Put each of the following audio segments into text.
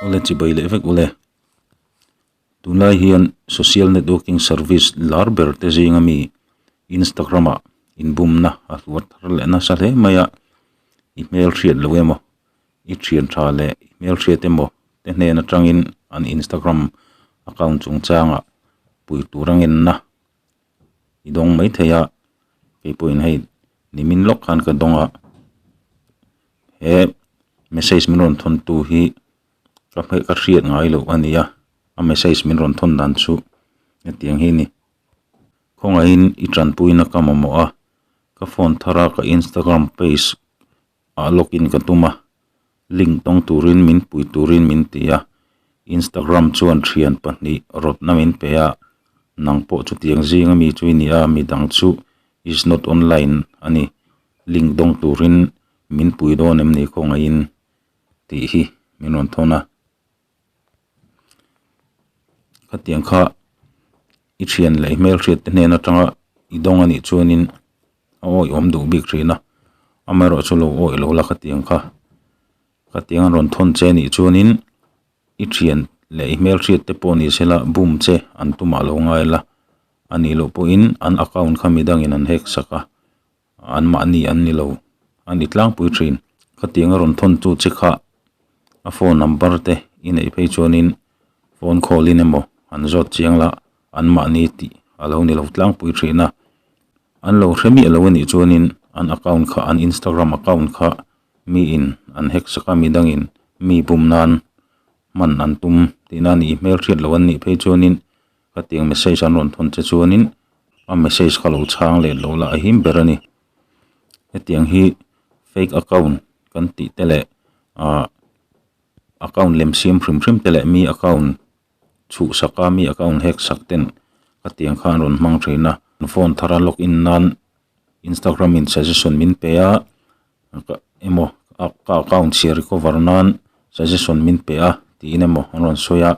Ule chi bai leh vek ule. Tunlai hian social networking service lar ber te zinga mi Instagram ah inbumna a hluan thar leh nasa hle mai a, i hmel hriat loh emaw, i thian tha leh i hmel hriat emaw te hnen atangin an Instagram account chungchangah pui tur a ngenna i dawng mai thei a, keipawhin hei nimin lawk khan ka dawng a, he message min rawn thawn tu hi ka hme ka hriat ngai loh ania, a message min rawn thawn dan chu hetiang hi a ni, khawngahin i tanpuina ka mamawh a, ka phone thar a ka Instagram page ah log in ka tum a, link tawng turin min pui turin min ti a, Instagram chuan thian pahnih rawtna min pe a, nang pawh chutiang zing a mi chu i ni a, midang chu is not online a ni, link tawng turin min pui dawn em ni khawngaih in tih hi min rawn thawn a. Khatiang kha i thian lei hmel hriatte hnen atanga i dawng a nih chuanin a awihawm duh bik thin a, amaherawhchu chu lo awih lo la khatiang kha. Khatiang an rawn thawn che a nih chuanin i thian lei hmel hriatte pawh ni sela bum che an tumah lo ngai la, a nih loh pawhin an account kha midangin an hack sak a. An mahni an ni lo, a ni tlangpui thin. Khatiang a rawn thawn chu che kha, a phone number te i neih phei chuanin phone call in emaw han zawt chiang la, an mahni tih a lo ni lo tlangpui thin a. An lo hre miah loh a nih chuanin an account kha, an Instagram account kha mi in an hack sak a, midang in mi bum nan hman an tum tihna a nih hmel hriat loh an nih phei chuanin Ka tiang message an rawn thawn che chuanin a message ka lo chhang let lo la ahim ber a ni. Hetiang hi fake account kan tih te leh ah account lem siam hrim hrim te leh mi account chhuh sak a, mi account hack sak ten ka tiang kha an rawn hmang thin a. Phone thara log in nan Instagram in suggestion min pe a, ka emaw ka account chhia recover nan suggestion min pe a tiin emaw an rawn sawi a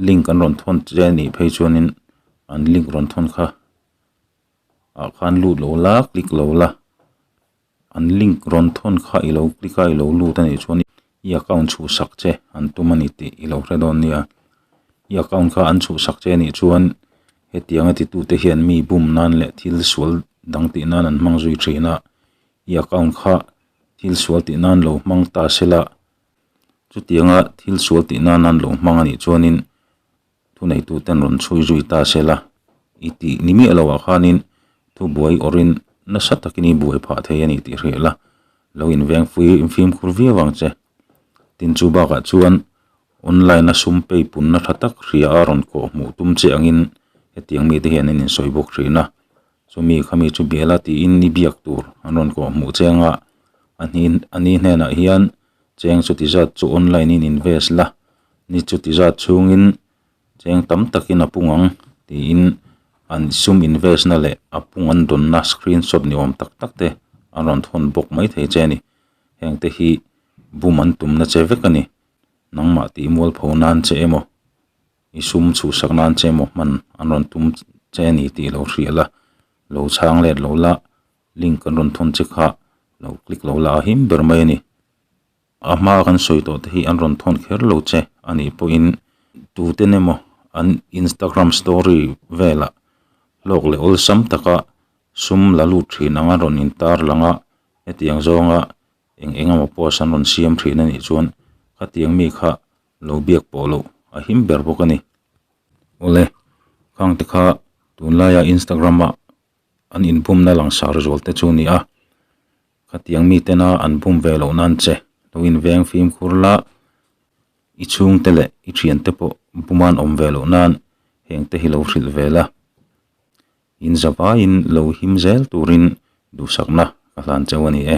link an rawn thawn chiah anih phei chuanin an link rawn thawn kha ah khan lut loh la click loh la an link rawn thawn kha i lo click a i lo lut anih chuan-- I account chhuhsak che an tum a ni tih i lo hre dawn nia. I account kha an chhuhsak che a nih chuan hetiang a titute hian mi bum nan leh thil sual dang tih nan an hmang zui thin a, i account kha thil sual tih nan lo hmang ta se la, chutianga thil sual tih nan an lo hmang a nih chuanin, Thuneituten rawn chhui zui ta se la, i tih ni miah lo ah khanin thubuai awrin nasa takin i buai phah thei a ni tih hreh la, lo inveng fui fimkhur viau ang che. Tin chu bakah chuan online a sum pei punna tha tak hria a rawn kawh hmuh tum che angin hetiang mite hian an insawi bawk thin a, chumi kha mi chu bial a tiin i biak tur an rawn kawh hmuh che anga a hni a ni hnenah hian cheng chuti zat chu online in invest la ni chuti zat chhungin cheng tam takin a pung ang tiin an sum invest na leh a pung an dawn na screen shot ni awm tak tak te an rawn thawn bawk mai thei che a ni hengte hi bum an tum na che vek a ni nangmah tihmual pho nan che emaw i sum chhuhsak nan che emaw hman an rawn tum che a ni tih lo hriat la lo chhang let loh la. link kan rawn thawn che kha lo click lo la him ber mai a ni a hma kan sawi tawh te hi an rawn thawn kher lo che a nih pawh in tute nem aw an Instagram story velah hlawk leh awlsam taka sum la lut thin anga rawn in tar lang a hetiang zawnga eng eng emaw post an rawn siam thin a nih chuan khatiang mi kha lo biak pawh loh a him ber bawk a ni awle khang te kha tunlai a Instagram ah An inbumna langsar zual te chu nia, khatiang mitena an bum ve loh nan che lo inveng fimkhur la, i chhungte leh i thiante pawh buman awm ve loh nan heng te hi lo hrilh ve la, in zavaiin lo him zel turin duhsakna ka hlan chauh a ni e.